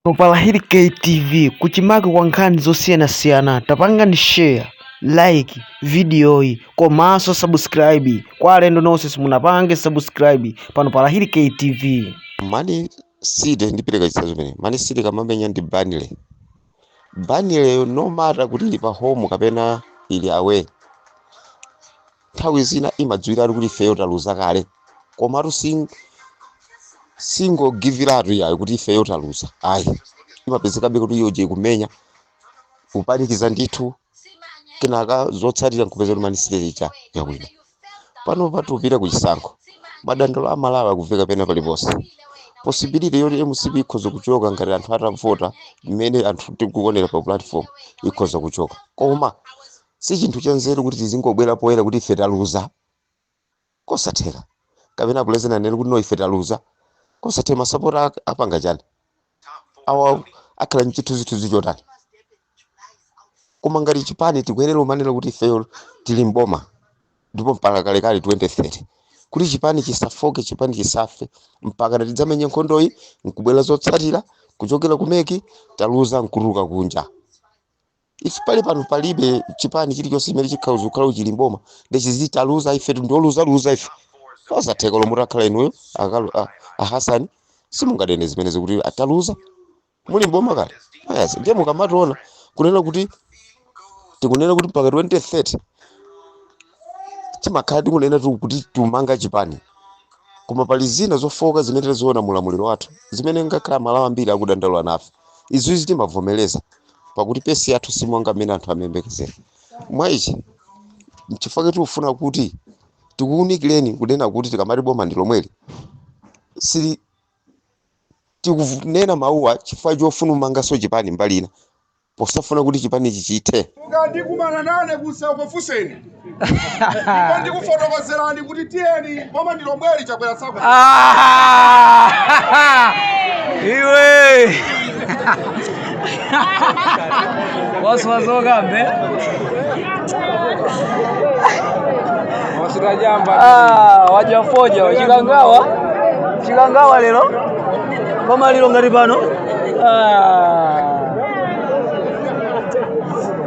Pa Lahiri KTV kuchimake kwa nkhani zosiyanasiyana tapangani share like vidiyoyi komanso subscribe kwa alendo nonse simunapange subscribe pano pa Lahiri KTV. Man City ndipereke chitsanzo chimene Man City kamamenya ndi Burnley Burnleyo no matter kuti ili pa home kapena ili away nthawi zina imadziwiratu kuti ifeyo taluza kale komatu sing- singogiviratu yayo kuti ifeyo taluza ayi imapezekabe kuti iyoje ikumenya kupanikiza ndithu kenaka zotsatira nkupeza kuti Man City ija yawina pano tikupita ku chisankho madandaulo a Amalawi akuveka pena paliponse possibility yoti mcp ikhoza kuchoka ngati anthu atavota mmene anthu tikuonera pa platform ikhoza kuchoka koma Si chinthu chanzeru kuti tizingobwera poyera kuti ife taluza. Kosatheka. Kapena pulezidenti anene kuti no ife taluza. Kosatheka masapota ak- apanga chani? Awa akhala mchithunzithunzi chotani? Koma ngati chipani tikuyenera umanena kuti ifeyo tili mboma ndipo mpaka kalekale 2030 kuti chipani chisafoke chipani chisafe mpaka na tidzamenye nkhondoyi nkubwera zotsatira kuchokera ku MEC taluza nkutuluka kunja ife pali pano palibe chipani chilichonse chimene chikhala kukhala chili mboma nde chiziti taluza ife ndioluzaluza ife osatheka lomwe takhala inuyo akalu a- a hasani simungadene zimene zikuti ataluza muli mboma kale ayasi ndiye mukamatiwona kunena kuti tikunena kuti mpaka 2030 timakhala tikunena tu- kuti tikumanga chipani koma pali zina zofooka zimene taziona mulamuliro wathu zimene ngakhale amalawi ambiri akudandaula nafe izizi timavomereza pakuti pace yathu si monga mmene anthu amayembekezera mwa ichi nchifukwa kuti tikufuna kuti tikuwunikireni kunena kuti tikamati boma ndi lomweli sili tikunena mawuwa chifukwa chofuna kumanganso chipani mbali ina posafuna kuti chipanichi chithe mukandikumana nane kuseriko funseni Ndipo ndikufotokozerani kuti tiyeni boma ndi lomweli Chakwera tsako Ah! Iwe! Waswa zokambe? Wasuta chamba. Ah, wadya fodya wa Chikangawa. Chikangawa lero. Koma lero ngati pano. Ah.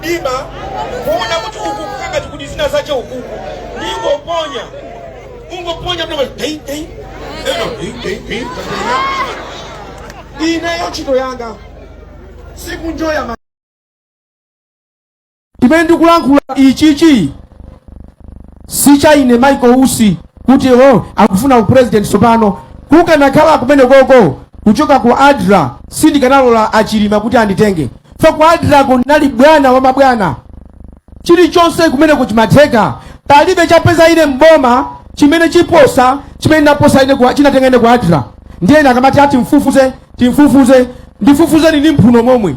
dima kuona kuti uku kukangati kuti zina zace ukuku ningoponya ungoponya mnama dei dei eno dei dei dei ineyo ntchito yanga sikunjoya zimene ndikulankhula ichichi si cha ine michael usi kuti o akufuna upresident tsopano kukanakhala kumeneko kuchoka ku adra sindikanalola achilima kuti anditenge so ku adra kunali bwana wa mabwana chilichonse kumeneku chimatheka palibe chapeza ine mboma chimene chiposa chimene naposa ine kwa- chinatenga ine ku adra ndiye ine akamati ati timfufuze timfufuze ndifufuzeni ndi mphuno momwe